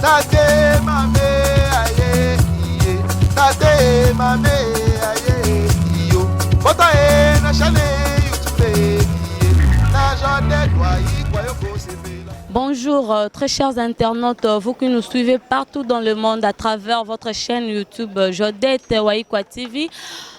Tate mame aye iye Tate mame aye iyo Bota e na chane YouTube iye Na jode kwa yi kwa yo kosepela Bonjour, euh, très chers internautes, euh, vous qui nous suivez partout dans le monde à travers votre chaîne YouTube euh, Jodette Waikwa TV.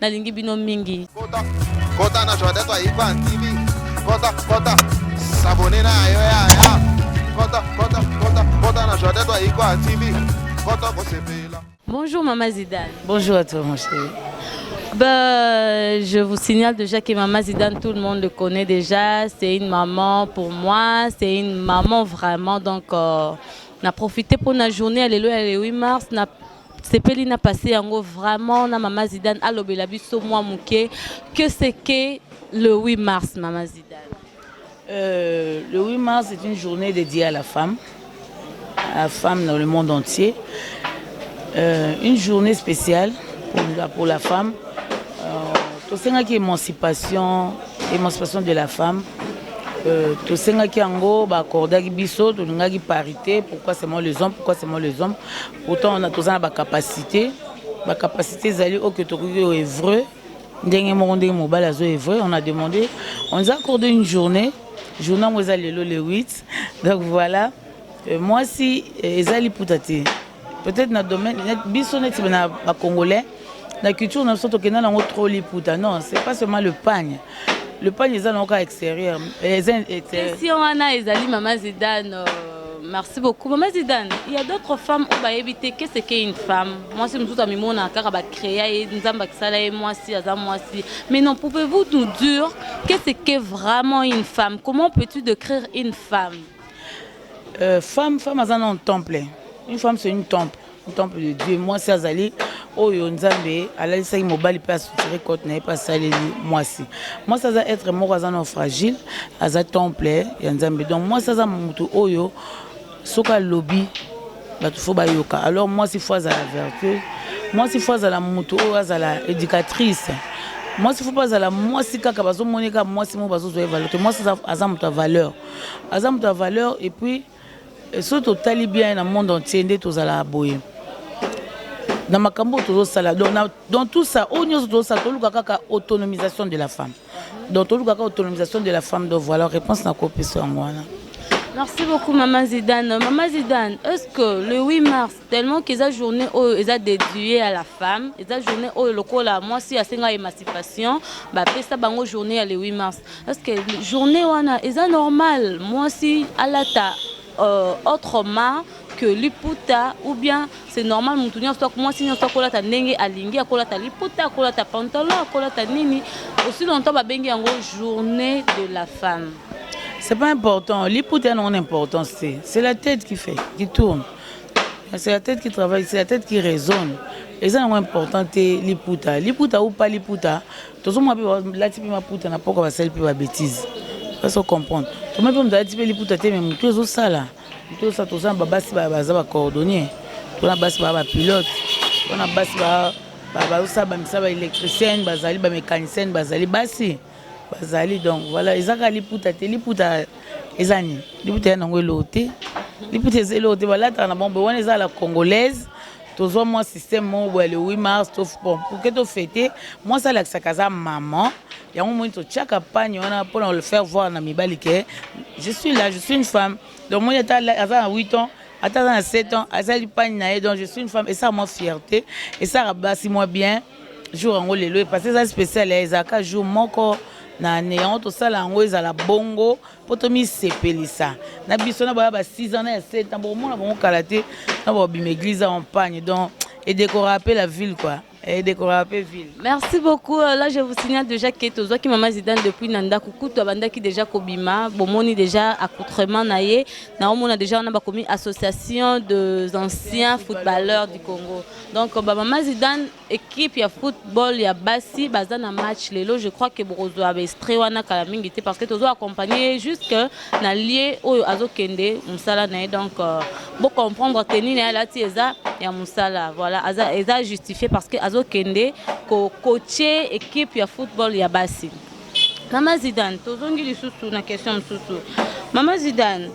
Nalingi bino mingi. Kota, kota na Joyeux Toi Ivan TV. Kota, kota, s'abonner na yo ya ya. Kota, kota, kota, kota na Joyeux Toi Ivan TV. Kota ko sepela. Bonjour Mama Zidane. Bonjour à toi mon chéri. Bah, je vous signale déjà que Maman Zidane, tout le monde le connaît déjà. C'est une maman pour moi, c'est une maman vraiment. Donc, euh, on a profité pour la journée, alléluia, le 8 mars, on a sepeli na passe yango vraiment na mama Zidane alobela biso mwa moke que c'est que le 8 mars mama Zidane euh, le 8 mars c'est une journée dédiée à la femme à la femme dans le monde entier euh, une journée spéciale pour la, pour la femme euh, tosengaki émancipation émancipation de la femme Euh, tosengaki yango baakordaki biso tolingaki parité pourquoi seulement les hommes pourquoi seulement les hommes Pourtant on a toza na ba capacité, ba capacité ezali oyo tokoki o œuvrer ndenge moko ndenge mobali azo œuvrer, on a demandé, on nous a accordé une journée, journée yango eza lelo le 8. Donc voilà, euh, mwasi euh, eza liputa te. Peut-être na domaine net- biso neti na ba congolais na culture na biso tokenda nango trop liputa non c'est pas seulement le pagne le pagne eza nango kaka extérieur question wana ezali mama zidane euh, merci beaucoup mama zidane il y a d'autres femmes oyo bayebi te qu'est ce qu'est une femme mwasi mosusu amimona kaka bacréa ye nzambe akisala ye mwasi aza mwasi mais non pouvez-vous nous dire qu'est ce qu'est vraiment une femme comment peux-tu décrire une femme euh, femme femme aza na un temple une femme c'est une temple temple de dieu mwasi azali oyo nzambe alalisaki mobali mpe asutire cote na ye mpe asaleli mwasi mwasi aza etre moko aza na fragile aza temple ya nzambe donc mwasi aza motu oyo soki alobi bato fo bayoka alors mwasi fo azala vertueuse mwasi fo azala motu oyo azala éducatrice mwasi fo mpe azala mwasi kaka bazomoneka mwasi moko bazozwa ye valeur te mwasi aza moto ya valeur aza moto ya valeur epuis Soki totali bien na monde entier nde tozalaka boye na makambo oyo tozosala donc na, dans tout ça oyo nyonso tozosala toluka kaka autonomisation de la femme donc toluka kaka autonomisation de la femme donc voilà réponse na kopesa yango wana Merci beaucoup Maman Zidane. Maman Zidane, est-ce que le 8 mars, Tellement que eza journee oyo eza dedue à la femme, eza journee oyo lokola mwasi asenga emancipation ba pesa bango journee ya le 8 mars. Parce que journee wana eza normal mwasi alata euh, autrement que liputa ou bien c'est normal mutu nyonso mwasi nyonso akolata ndenge alingi akolata liputa akolata pantalon akolata nini aussi longtemps babengi yango journée de la femme c'est pas important liputa yango na importance te c'est la tête qui fait qui tourne C'est la tête qui travaille, c'est la tête qui raisonne. eza nango important te liputa liputa ou pas liputa tozomona mpe balati mpe maputa na poko basali mpe babétise ose ocomprendre toma mpe moto alati mpe liputa te me motu ezosala motu ezosala toza na babasi baza bacoordonnier tona basi baa bapilote tona basi bazosala bamisala baélectricienne bazali bamécanicienne bazali basi Bazali donc voilà eza kaka liputa te liputa eza nini liputa ya nango eloko te liputa eza eloko te balataka na bango boye wana eza la congolaise tozwa mwa système moko boye le 8 mars to bon pour que to fete mwasi alakisaka aza maman yango moni totyaka pagne wana mpo na le faire voir na mibali ke je suis là je suis une femme donc moni ata aza na 8 ans ata aza na 7 ans asali pagne na ye donc je suis une femme esaka mwa fierté esaka basi mwa bien jour yango lelo epase eza special ya ezalaka jour moko na ane yango tosala yango ezala bongo mpo tomisepelisa na biso na baya ba 6 ans na ya 7 ans bokomona bango kala te na babima église en pagne donc edekora mpe la ville quoi edekora mpe ville merci beaucoup euh, là je vous signale déjà ke tozwaki mama zidane depuis na ndako kutu abandaki déjà kobima bomoni déjà accoutrement na ye naomona déjà wana bakomi association des anciens footballeurs du congo Donc ba mama Zidane equipe ya football ya basi baza na match lelo je crois que bokozwa ba extrait wana kala mingi te parce que tozo accompagner jusque na lieu oyo azokende musala na ye donc euh, bo comprendre tenue na ye alati eza ya musala voilà aza eza justifié parce que azokende ko coacher equipe ya football ya basi mama Zidane tozongi lisusu na question mosusu mama Zidane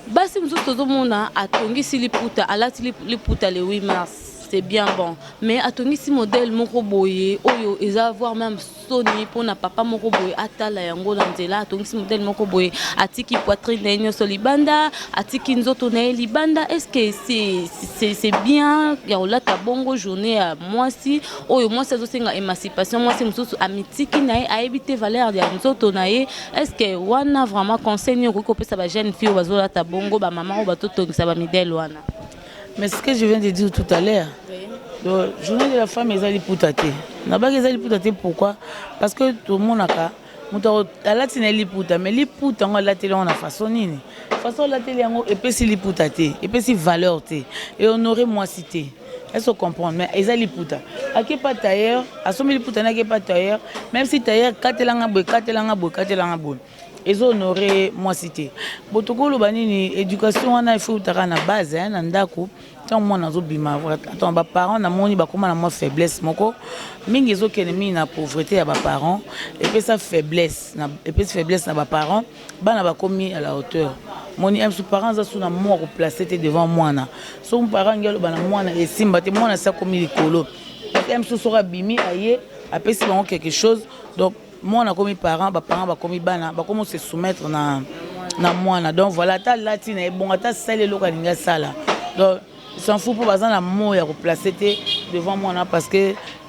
Basi mosusu tozomona atongisi liputa alati liputa le 8 mars c'est bien bon mais atongisi modèle moko boye oyo eza voir même soni mpona papa moko boye atala yango na nzela atongisi modèle moko boye atiki poitrine na ye nyonso libanda atiki nzoto na ye libanda est-ce que c'est c'est bien ya kolata bongo journée ya mwasi oyo mwasi azosenga émancipation mwasi mosusu amitiki na ye ayebi te valeur ya nzoto na ye Est-ce que wana vraiment conseil nini okoki kopesa ba jeune fille bazolata bongo ba maman oyo batotongisa ba midele wana mais ce que je viens de dire tout à l'heure oui. journée de la femme eza liputa te nabaki eza liputa te pourquoi parce que tomonaka moto alati na ye liputa mais liputa yango alateli yango na façon nini façon alateli yango epesi liputa te epesi valeur te ehonore mwasi te Est-ce que comprendre? Mais eza liputa. Ake pas tailleur, asombi liputa na ke pas tailleur, même si tailleur katela nga boye, katela nga boye, katela nga boye. Ezo honorer moi cité. Botoko loba nini éducation wana il faut utaka na base hein, na ndako. Tant moi nazo bima vrai. Attends ba parents na moni ba koma na moi faiblesse moko. Mingi ezo kene mingi na pauvreté ya ba parents et puis ça faiblesse na et puis faiblesse na ba parents. bana bakomi à la hauteur moni un parent aza su na mwa ko placer te devant mwana so parent ngi aloba na mwana esimba te mwana sa komi likolo un soki abimi aye apesi bango quelque chose donc mwana akomi parent ba parent bakomi bana bakomi se soumettre na na mwana donc voilà ata alati na ye bongo ata asali eloko alingi asala donc s'en fout mpo baza na mot ya ko placer te devant mwana parce que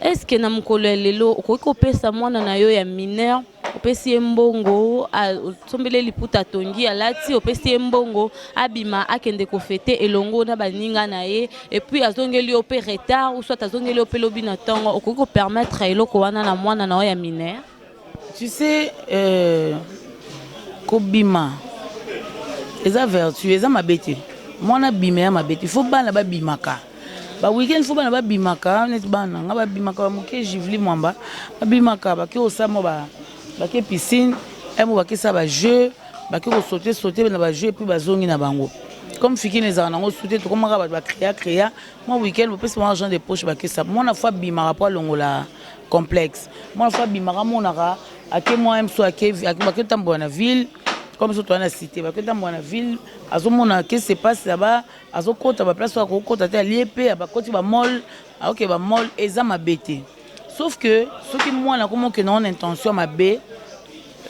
Est ce que na mokolo ya lelo okoki kopesa mwana na yo ya mineur opesi ye mbongo osombeli ye liputa atongi alati opesi ye mbongo abima akende kofete elongo na baninga na ye epuis azongeli yo mpe retard ou soit azongeli yo mpe lobi na ntongo okoki kopermettre eloko wana na mwana na yo ya mineur Tu sais euh, kobima eza vertu eza mabe te mwana abima ya mabe te fo bana babimaka ba weekend fo bana babimaka neti bana nga babimaka bamoke jivli mwamba babimaka bake osamo ba, bake piscine emo bakesa bajeu bake kosote sote na bajeu epuis bazongi na bango comme fikini ezalaka nango su te tokomaka bato bacrea crea mwa weekend bopesi bango argent de poche bakesa mwana fo abimaka mpo alongola complexe mwana fo abimaka amonaka ake mwa mso ake bake tambola na ville comme so toa na cité bake tambola na ville azomona ke se passe là-bas azokota baplace oyo akokota te alie mpe abakoti bamole aoke bamole eza mabe te sauf que soki mwana akomoke na ona intention mabe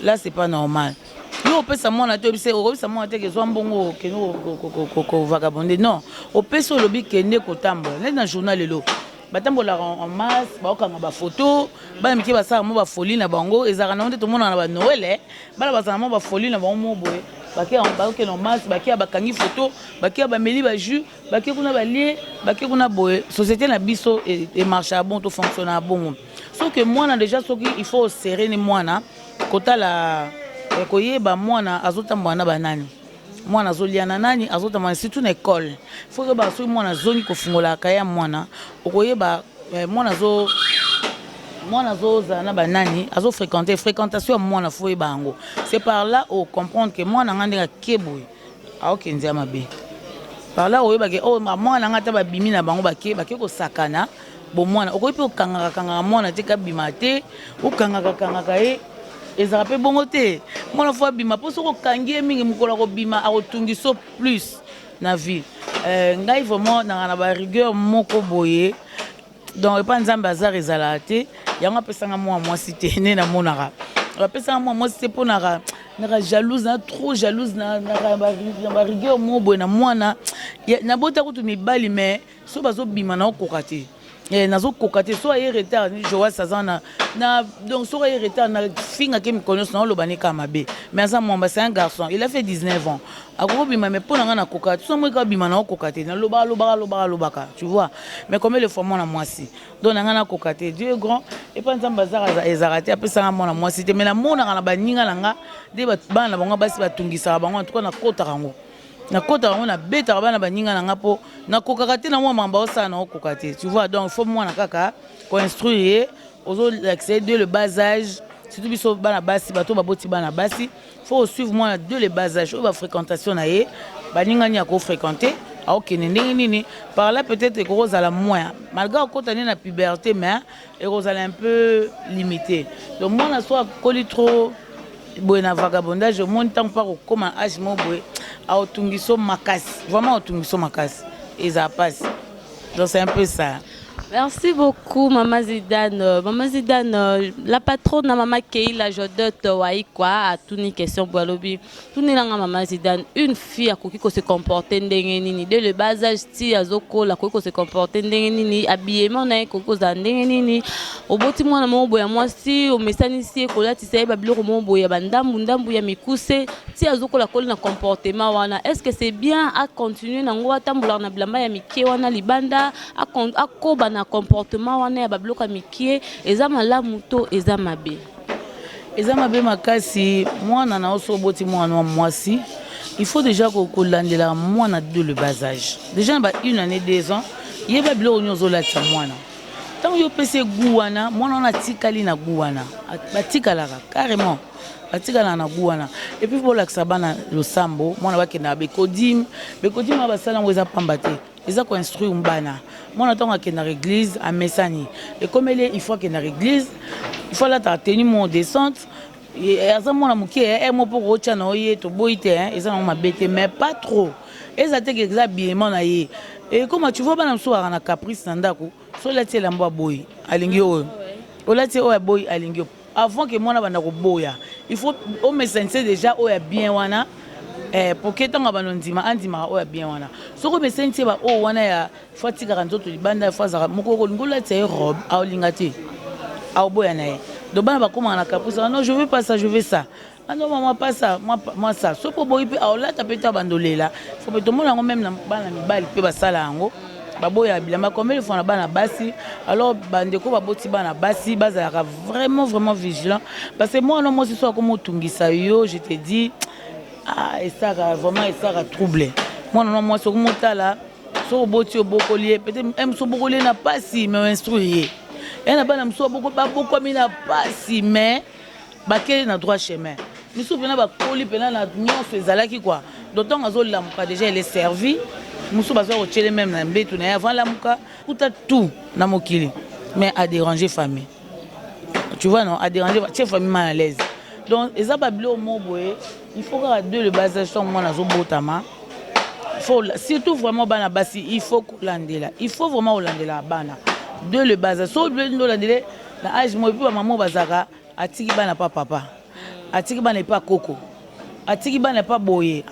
là c'est pas normal yo opesa mwana te obise okobisa mwana te kezwa mbongo okende kovagabonde non opesi olobi kende kotambola neti na journal lelo batambolaka en masse baokanga bafoto bana mike basalaka mwa bafoli na bango ezalaka nango nde tomonaka na banoele bana bazala mwa bafoli na bango mo boye bakokende en masse bakeya bakangi foto bakeya bameli bajus bake kuna balie bake kuna boye société na biso emarchaka e bon tofonctionnaka bongo soki mwana déjà soki il faut oserene mwana kotala eh, koyeba mwana azotambola na banani Mwana azolia na nani azotamana surtout na ecole faut oyeba soki mwana azongi kofungola kaye ya mwana okoyeba eh, mwana azo mwana azozala na banani azofréquente fréquentation ya mwana faut oyeba yango c'est par là au comprendre que mwana ngai ndenge ake boye aokende ya mabe par là oyebake oyo oh, mwana ngai ata babimi na bango bake bake kosakana Bon mwana okoki pe okangaka kangaka mwana te kabima te okangaka kangaka ye ezalaka pe bongo te mwana fo abima po soki okangi ye mingi mokolo akobima akotungiso plus na vie euh, ngai vraiment nanga na ba rigueur moko boye donc epa nzambe azar ezalaka te yango apesanga mwana mwasi te nde namonaka bapesanga mwana mwasi te mponaka naka jalouse na trop jalouse na barigueur moko boye na mwana nabota kutu mibali mais soki bazobima na okoka te eh, nazokoka te soki aye retard joas aza na na donc soki aye retard na fingake mikolo nyonso naoloba ne kaka mabe mais aza mwamba c'est un garçon il a fait 19 ans akoki obima mais mpo na ngai nakoka te soki moyeka obima na okoka te nalobaka lobaka lobaka lobaka tu vois mais combien de fois mwana mwasi donc na ngai nakoka te dieu est grand epa nzambe azaka ezaka te apesanga mwana mwasi te mais namonaka na baninga na ngai nde bana na bango basi batungisaka bango en tout cas nakotaka yango nakotaka yango nabetaka bana baninga na nga mpo nakokaka te na mwa mamba osala na okoka te tu vois donc faut mwana kaka koinstruire ye ozolakisa ye de le bas âge surtout biso bana basi bato baboti bana basi faut osuivre mwana de le bas âge oyo bafréquentation na ye baninga nini akofréquente aokende ndenge nini par là peut-être ekoki kozala moyen malgré okota nde na puberté mais ekozala un peu limite donc mwana so akoli trop boye na vagabondage omoni ntango mpo akokoma age moko boye aotungiso makasi vraiment aotungiso makasi ezala mpasi donc c'est un peu ça Merci beaucoup, Maman Zidane. Maman Zidane, la patronne, Maman Keila Jodotte, Waïkwa, a tout une question, Boalobi. Tunela nga mama Zidane, une fille akoki ko se comporter ndenge nini dès le bas âge ti azokola akoki ko se comporter ndenge nini habillement na ye ekoki kozala ndenge nini oboti mwana moko boye ya mwasi omesanisi ye kolatisa ye ba biloko moko boye ya bandambu ndambu ya mikuse ti azokola akoli na comportement wana est ce que c'est bien a continuer na yango atambolaka na bilamba ya mikie wana libanda akoba na comportement wana ya ba biloko ya mikie eza malamu to eza mabe Eza mabe makasi mwana na oso oboti mwana wa mwasi il faut déjà kolandela mwana de le bas âge déjà na ba une année deux ans yeba biloko nini ozolatisa mwana ntango yo opesi ye gu wana mwana wana atikali na gu wana batikalaka carrément batikalaka na gu wana epuis bolakisa bana losambo mwana bakendaka bekodime bekodime oyo basala yango eza mpamba te Eza ko instruire bana. Mwana tango akendaka eglise amesani ekomeli ye il faut akendaka eglise il faut alataka tenue moko decente aza mwana moke eh mo mpo kootya na yo ye toboyi te hein, eza nango mabe te mais pas trop eza te ke eza habillement na ye ekoma tu vois bana mosusu bakaka na caprice na ndako so olati elamba ya boye alingi oyo olati oyo ya boye alingi yo Avant que muana abanda koboya il faut o mesanise dejà oyo ya bien wana eh, pour que ntango abanda ondima andimaka oyo ya bien wana soki omesanisi ye ba oyo wana ya fo atikaka nzoto libanda fo azalaka moko okolinga olatisa ye robe aolinga te aoboya na ye donc bana bakomaka na caprice wana non je veux pas ça je veux ça Ado mama pasa mwa sa soki oboyi mpe aolata mpe to abando lela fo mpe tomona yango meme na bana mibali mpe basala yango baboya bilamba combien de fois na bana basi alors bandeko baboti bana basi bazalaka vraiment vraiment vigilant parce que mwana mwasi so akomi otungisa yo je te dis ah, esaka vraiment esaka trouble mwana na mwasi okomi otala so oboti obokoli ye peut-être eh, mosu obokoli ye na pasi mais oinstruire ye ye na bana mosusu babokwami na pasi mais Bakeli na droit chemin. Misusu pena bakoli pena na nionso ezalaki quoi. Donc tango azo lamuka dejà elle est servie. Mususu baza ko tiele meme na mbetu na ye avant alamuka. Kuta tout na mokili mais a deranger famille. Tu vois non? A deranger ba tie famille mal à l'aise. Donc eza ba biloko moko boye il faut kaka de le bas age tango mwana azo botama faut surtout vraiment bana basi il faut kolandela il faut vraiment kolandela bana de le base so obeli nde olandele na age moye mpe bamama bazalaka Atiki bana pa papa atiki bana epa koko atiki bana epa boye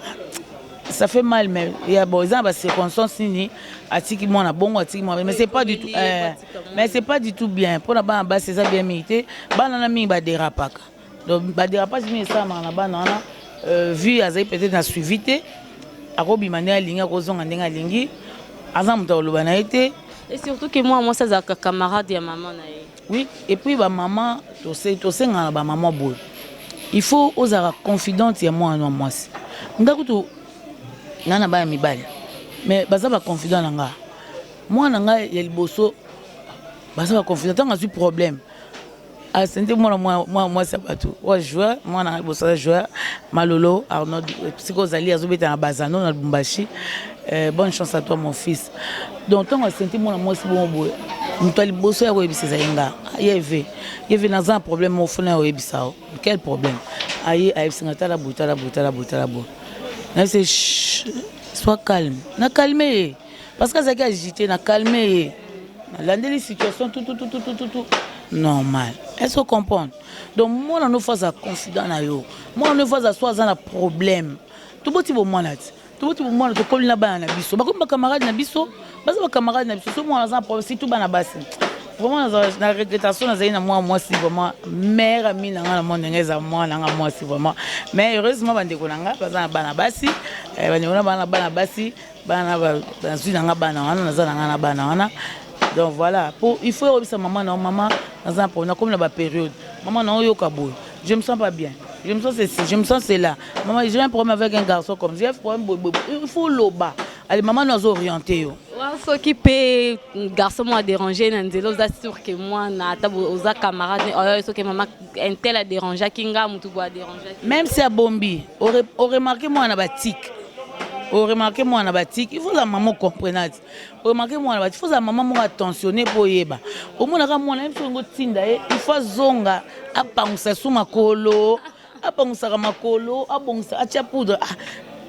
ça fait mal mais ya bon eza na ba circonstances nini atiki mwana bongo atiki mwana mais c'est pas du tout eh, mais c'est pas du tout bien pona bana basi eza bien mingi te bana na mingi ba derapaka donc ba derapage mingi esalamaka na bana wana euh, vue azali peut-être na suivi te akobima ndenge alingi akozonga ndenge alingi aza moto akoloba na ye te et surtout que mwana mwasi azalaka camarade ya mama na ye Oui et puis ba maman tosenga na ba maman boye il faut ozala confidente ya mwana na mwasi nga kutu nga na bana mibali mais baza ba confident na nga mwana nga ya liboso baza ba confident ntango azwi problème asende mwana mwana mwasi ya bato oyo joueur mwana liboso aza joueur malolo arnold sikoyo ozali azobeta na bazano na lubumbashi Eh, bonne chance à toi mon fils. Donc ntango asenti mwana mwasi bongo boye moto ya liboso ya koyebisa ezali nga yeve yeve naza na problème moko fona ya oyebisa o quel problème aye ayebisa nga tala boye tala boye tala boye tala boye nayebisa soit calme na calme ye parce que azalaki agité na calme ye nalandeli situation tutututututu normal est ce que comprendre donc mwana no fo aza confident na yo mwana no fo aza so aza na problème toboti bomwana ti toboti bomwana tokoli na bana na biso bakomi bacamarade na biso baza bacamarade na biso so mwana aza na problème surtout bana basi vraiment na regretation nazali na mwana mwasi vraiment mare ami na ngai na mwa ndenge eza mwana ngai mwasi vraiment mais heureusement bandeko na ngai baza na bana basi eh, bandeko na bana bana basi bana bazwi na ngai bana wana naza na ngai na bana wana donc voilà po il faut oyebisa mama na yo mama naza na problème nakomi na baperiode mama na oyoka boye Je me sens pas bien. Je me sens ceci, je me sens cela. Maman, j'ai un problème avec un garçon comme j'ai un problème boy boy. Il faut loba. Allez, maman nous orienter yo. Wa soki pe garçon moi déranger na nzela oza sûr que moi na ata bo- oza camarade ne oyo soki maman un tel a déranger ki nga mutu bo a déranger. Même si abombi, au re- au remarquer moi na batik. Au remarquer moi na batik. Il faut la maman comprenante. Remarquer mwana bati faut zala maman moko attentionner po oyeba omona ka mwana yebisa ngo tinda ye il faut azonga apangusa su makolo apangusaka makolo abongisa atia poudre ah,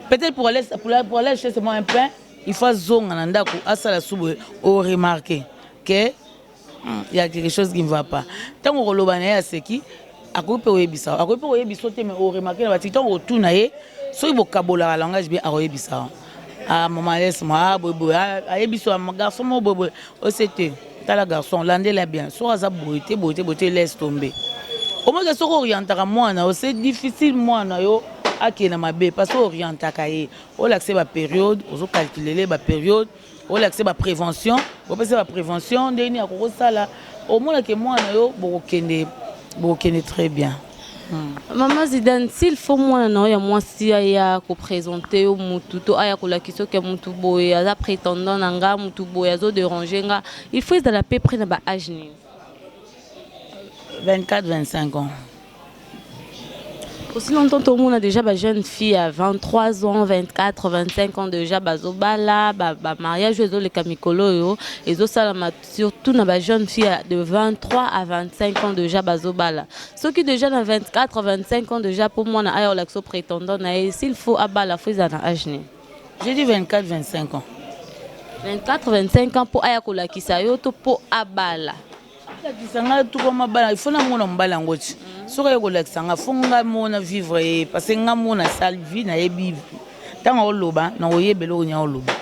peut-être pour aller pour aller, pour aller chez moi un pain il faut azonga na ndako asala su boye o remarquer que Hum, il y a quelque chose qui ne va pas. Tango koloba na ye aseki, akoki pe koyebisa. Akoki pe koyebisa te mais au remarquer na batiki tango otuna ye soki bokabolaka langage bien akoyebisa. Ah maman laisse moi ah boy boy ah, ayebisa ah, garçon mo boy boy osete oh, tala garçon landela bien soki aza boye te boye te boye te laisse tomber. Omaka soki orientaka mwana yo c'est difficile mwana yo akende na mabe parce que orientaka ye olakisa ye baperiode ozocalculele baperiode olakisa ba prévention opesa ba prévention ndenge nini akoki kosala omona ke mwana yo bokokende bokokende très bien Hmm. Maman Zidane, s'il faut moi na ya mwasi aya ko présenter yo mutu to aya ko lakisa que mutu boye aza prétendant na nga mutu boye azo déranger nga, il faut ezala peu près na ba âge nini? 24 25 ans aussi longtemps tout le monde a déjà ba jeune fille à 23 ans 24 25 ans déjà bazobala ba, ba mariage ezoleka mikolo oyo ezosalama surtout na ba jeune fille de 23 à 25 ans déjà bazobala soki déjà na 24 25 ans déjà mpo mwana aya olakisa prétendant na ye s'il faut abala fo ezala na age nini J'ai dit 24, 25 ans. 24, 25 ans po aya kolakisa yo to po abala. Alakisa nga to koma bala, il faut na mona mbala ngo ti. Soki aye kolakisa nga, faut nga mona vivre ye parce que nga mona sale vie na ye bi. Tango oloba na oyebelo onya oloba.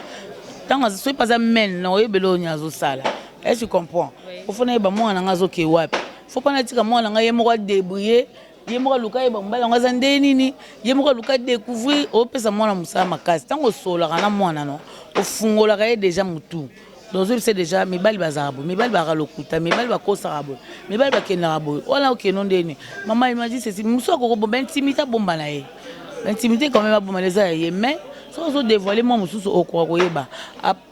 Tango soki paza men na oyebelo onya azo sala. Est-ce que tu comprends? Faut na yeba mwana nga azo ke wapi. Faut pas na tika mwana nga ye moko a débrouiller ye moko aluka yeba mobali yango aza ndenge nini ye moko aluka découvrir opesa mwana mosala makasi ntango osololaka na mwana no ofungolaka ye deja motu dozobisa deja mibali bazalaka boye mibali bazalaka lokuta mibali bakosaka boye mibali bakendaka boye wana okeno ndenge nini mama imadi sesi mosu akokobo baintimité abomba na ye baintimité quand même abomba na eza ya ye mais soki ozodevoile mwa mosusu okoka koyeba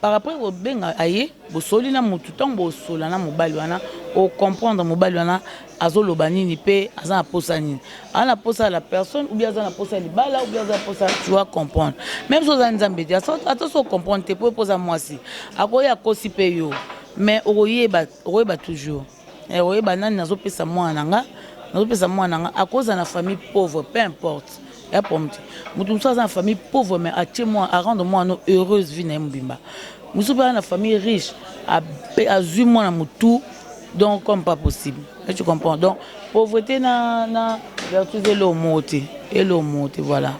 Par après kobenga aye bosoli na mutu tango bosola na mobali wana o comprendre mobali wana azo loba nini pe aza na posa nini aza na posa la personne ou bien aza na posa libala ou bien aza na posa tu vas comprendre même si oza nzambe te ata so comprendre te po poza mwasi akoya akosi pe yo mais okoyeba okoyeba toujours Eh oyeba nani nazo pesa mwana na nga nazo pesa mwana na nga akoza na famille pauvre peu importe ya problème te mutu mosusu aza na famille pauvre mais atie mwana a rendre mwana no heureuse vie na ye mobimba mosusu mpe aza na famille riche azwi mwana motu donc comme pas possible et tu comprends donc pauvreté na na vertus elo moko te elo moko te voilà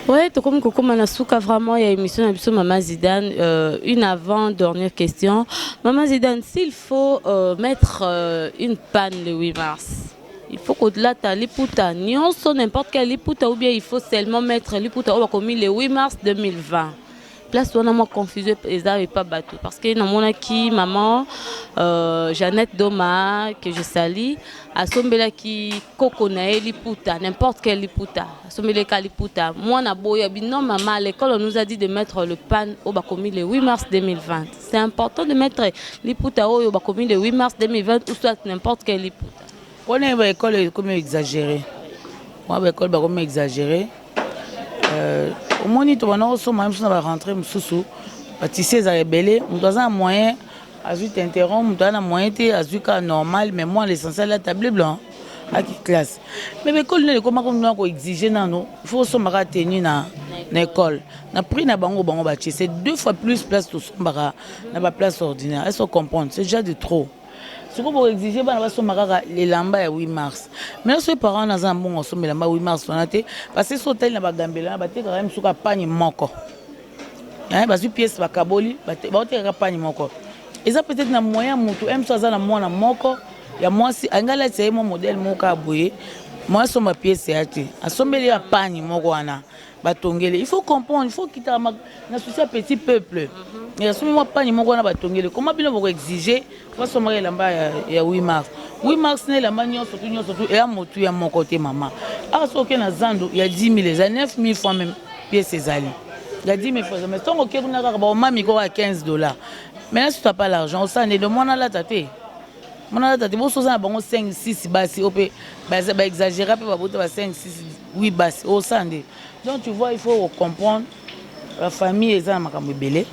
Ouais, tokomi kokoma na suka vraiment ya émission na biso Maman Zidane. Euh, une avant dernière question. Maman Zidane, s'il faut euh, mettre euh, une panne le 8 mars, il faut kodlata liputa nyonso n'importe quel liputa ou bien il faut seulement mettre liputa oyo bakomi le 8 mars 2020. place wana mwa confusion eza epa bato parce que namonaki maman euh, jeannette doma que je sali asombelaki koko na ye liputa n'importe quel liputa asombeleka liputa mwana boya bino mama l'école on nous a dit de mettre le pan oyo bakomi le 8 mars 2020 c'est important de mettre liputa oyo bakomi le 8 mars 2020 ou soit n'importe quel liputa Pona ye ba ecole ekomi exagere mwa ba ecole bakomi exagere euh, omoni tobanda kosomba ye mosusu na barentre mosusu batisi ezala ebele moto aza na moyen azwi tinteron moto aza na moyen te azwi kaka normal mais moi l'essentiel ya table blanc aki classe mais baekole nde ekoma komina koexige nano faut osomba kaka tenu na na ekole na prix na bango bango batie c'est deux fois plus place tosombaka na baplace ordinaire est ce comprendre ce genre de trop Sikoyo bo exige bana basomba kaka elamba ya 8 mars. Maintenant soki parent wana aza na mbongo asomba elamba 8 mars wana te parce que soki otali na bagambela wana batekaka ye mosusu kaka panye moko eh, bazwi pièce bakaboli baotekaka panye moko eza peut-être na moyen motu ye mosusu aza na mwana moko ya mwasi alingi alatisa ye mwa modele moko kaka boye moya asomba pièce ya te asombeli ya panye moko wana ah, ba tongele il faut comprendre il faut kita na souci ya petit peuple ya somi mwa pani moko wana ba tongele comment bino boko exiger ba soma ya lamba ya 8 mars 8 mars ne lamba nyonso tu nyonso tu ya motu ya moko te mama a so ke na zando ya 10000 eza 9000 fois même pièce ezali ya 10000 fois mais tongo ke kuna kaka ba omami ko 15 dollars mais là tu n'as pas l'argent au sande de mwana lata te mwana lata te bosoza na bango 5 6 basi oyo mpe ba exagera mpe babota ba 5 6 8 basi osa nde donc tu vois il faut ocomprendre la famille eza na makambo ebele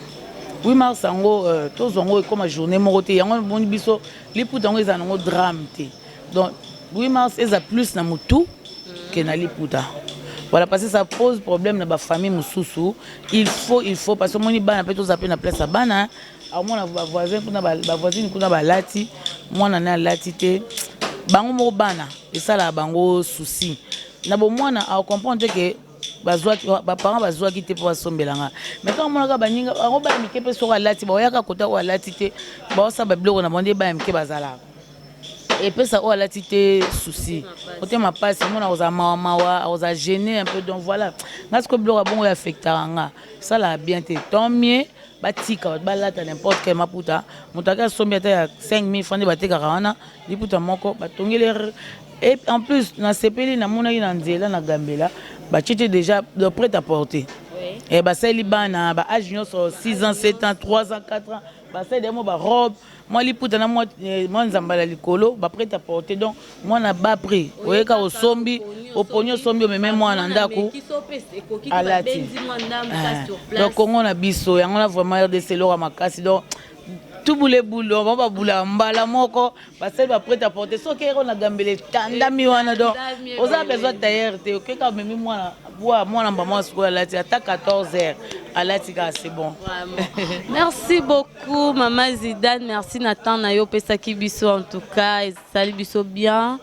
8 mars yango euh, tozwa yango ekoma journée moko te yango moni biso liputa yango ezala nango drame te donc 8 mars eza plus na motu ke na liputa voilà parce que ça pose problème na bafamille mosusu il faut il faut parce que omoni bana mpe tozala mpe na place ya bana Akomona ba voisins kuna ba voisines kuna balati mwana naye alati te bango moko bana esalaka bango souci na bomwana a comprendre ke bazwaki baparent bazwaki te mpo basombela nga me kaka monaka baninga bango baya mike mpe soko alati baoyaka kota oyo alati te baosala babiloko na bango nde baya mike bazalaka epesa oyo alati te souci motema mpasi omona akozala mawa mawa akozala gene un peu donc voilà nga sikoyo biloko ya bongo oyo affectaka nga esalaka bien te tant mieux Batika bato balata n'importe quel maputa moto ake asombi ata ya 5000 francs nde batekaka wana liputa moko batongeli et en plus nasepeli namonaki na nzela na gambela batie te déjà le prêt à porter eh, basaleli bana ba age nyonso 6 ans 7 ans 3 ans 4 ans basaleli yango barobe mwa liputa na mwa eh, mwa nzambala likolo ba prêt à porter donc mwana ba prix oyeka osombi oponi osombi omeme mwana ndako alati eh, donc kongo na biso yango na vraiment rdc eloko makasi donc tubule bulo bango babulaka mbala moko basali baprete à porter soki eko na gambela etandami wana donc oza besoin tailleur te okeka omemi mwana Wa mwana mba mwa sikoyo alati ata 14 heures alati kaka c'est bon. merci beaucoup mama Zidane, merci na temps na yo opesaki biso en tout cas esali biso bien.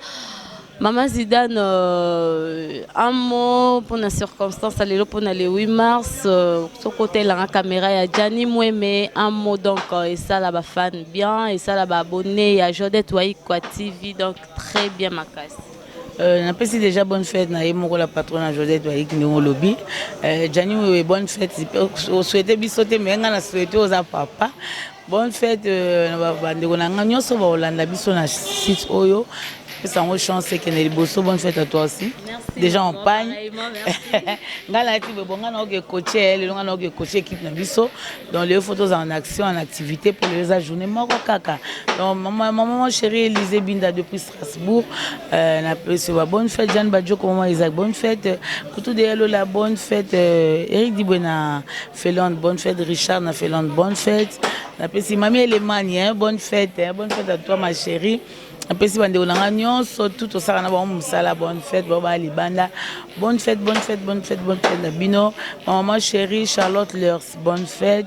Mama Zidane, euh, un mot pour la circonstance, allez pour le 8 mars, euh, ce côté là, la caméra, il y a Gianni Moueme, un mot donc, euh, et ça là, fan bien, et ça là, abonné, il y a Jodette Waïkwa TV, donc très bien ma casse. Euh, napesi déjà bonne fête na ye moko la patronne ya josette bayiki ndenge olobi euh, jani wewe bonne fête oswete biso te me ngai na swete oza papa bonne fête euh, na bandeko na ngai nyonso bakolanda biso na site oyo pesa yango chance ekende liboso bonne fête à toi aussi déjà en pagne ngai nayaki bebo ngai naoke coache eh, lelo ngai naoke coache équipe na biso donc lelo fo tozala en action en activité mpo lelo eza journée moko kaka donc maman chérie elise binda depuis Strasbourg euh, na peso ba bonne fête Jeanne Badjoko maman Isaac bonne fête euh, Kutu de Lola bonne fête euh, Eric Dibwe na Felande bonne fête Richard na Felande bonne fête na pesi mami Elemani hein, bonne fête hein, bonne fête à toi ma chérie napesi bandeko na ngai nyonso tu tosala na bango mosala bonne fête bao baya libanda bonne fête bonne fête bonne fête bonne fête na bino ma maman chérie charlotte leurs bonne fête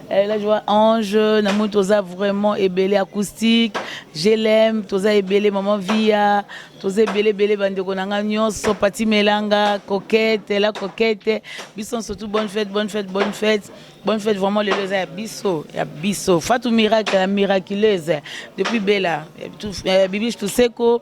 Eh, la joie ange na moni toza vraiment ebele acoustique glm toza ebele maman via toza ebele ebele bandeko na ngai nyonso pati melanga coquete la coquete biso nso tout bonne fête bonne fête bonne fête bonne fête vraiment lelo eza ya biso ya biso fatou miracle ya miraculeuse depuis bela eh, bibiche tuseko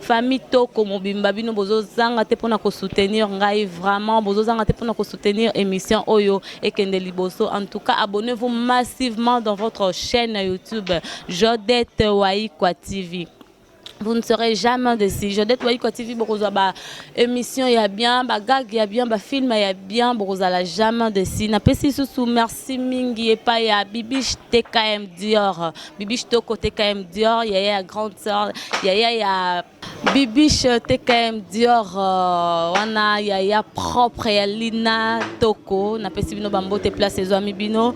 Famille toko mobimba bino bozo zanga te pona ko soutenir ngai vraiment bozo zanga te pona ko soutenir emission oyo ekende liboso en tout cas abonnez vous massivement dans votre chaîne YouTube Jodette Waikwa TV vous ne serez jamais déçu Jodette Waikwa TV bokozwa ba émission ya bien ba gag ya bien ba film ya bien bokozala jamais déçu napesi susu merci mingi epa ya Bibiche TKM Dior Bibiche Toko TKM Dior, Yaya ya Grande Sœur, Yaya ya Bibiche TKM Dior, euh, wana Yaya propre ya Lina Toko, napesi bino bambote place ezwami bino.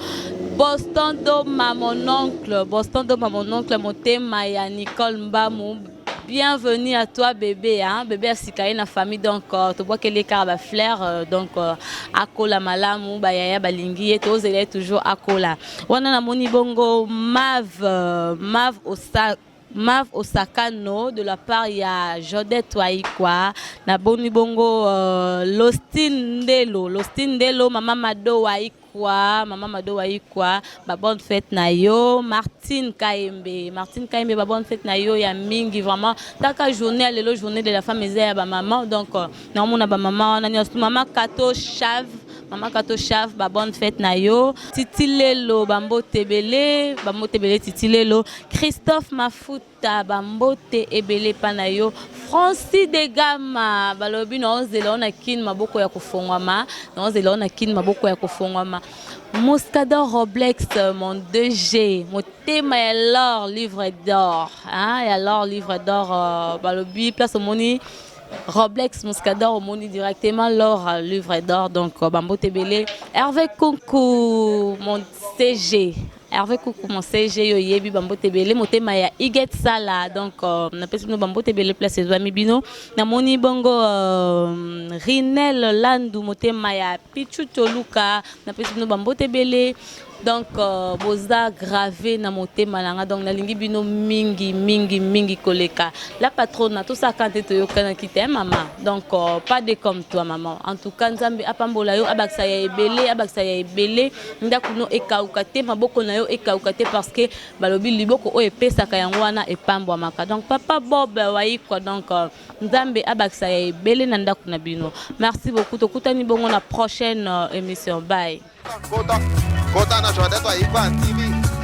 Boston Doma mon oncle, Boston Doma mon oncle, motema ya Nicole Mbamu, Bienvenue à toi bébé hein bébé asika ye na famille donc euh, tobwakeli ye kaka bafleur euh, donc euh, akola malamu bayaya balingi ye tozela ye toujours akola wana namoni bongo mave euh, mave osa Mav Osakano de la part ya Jodette Waikwa na boni bongo euh, Lostine Ndelo Lostine Ndelo mama Mado Waikwa Kwa maman Mado wayi kwa ba bonne fête na yo Martine Kaembe Martine Kaembe ba bonne fête na yo ya mingi vraiment taka journée lelo journée de la femme eza ya ba maman donc euh, na mona ba maman wana nyoso maman Kato Chave maman Kato Chave ba bonne fête na yo Titilelo ba mbotebele ba mbotebele Titilelo Christophe Mafuta Ta ba mbote ebele epa na yo Francis de Gama balobi na ozela yo na kin maboko ya kofongwama na ozela yo na kin maboko ya kofongwama Moscador Roblex mon 2G motema ya l'or livre d'or hein ya l'or livre d'or euh, balobi place omoni Roblex Muscador omoni directement l'or euh, livre d'or donc euh, bambote ebele Hervé Kunku mon CG Hervé Kuku mon CG yo yebi bambote ebele motema ya Iget Sala donc euh, na pesi bino bambote ebele place ezwami bino namoni bongo euh, Rinel Landu motema ya Pichu Toluka na pesi bino bambote ebele donc euh, boza grave na motema na nga donc nalingi bino mingi mingi mingi koleka la patrona tosaka nte toyokanaki te mama donc euh, pas de comme toi maman en tout cas nzambe apambola yo abakisa ya ebele abakisa ya ebele Ndaku no ekawuka te, maboko na yo ekawuka te parce que balobi liboko oyo epesaka yango wana epambwamaka donc papa Bob Wayikwa donc Nzambe abakisa ya ebele na ndaku na bino merci beaucoup tokutani bongo na prochaine emission bye. Kota, kota na Joadette Wayikwa TV.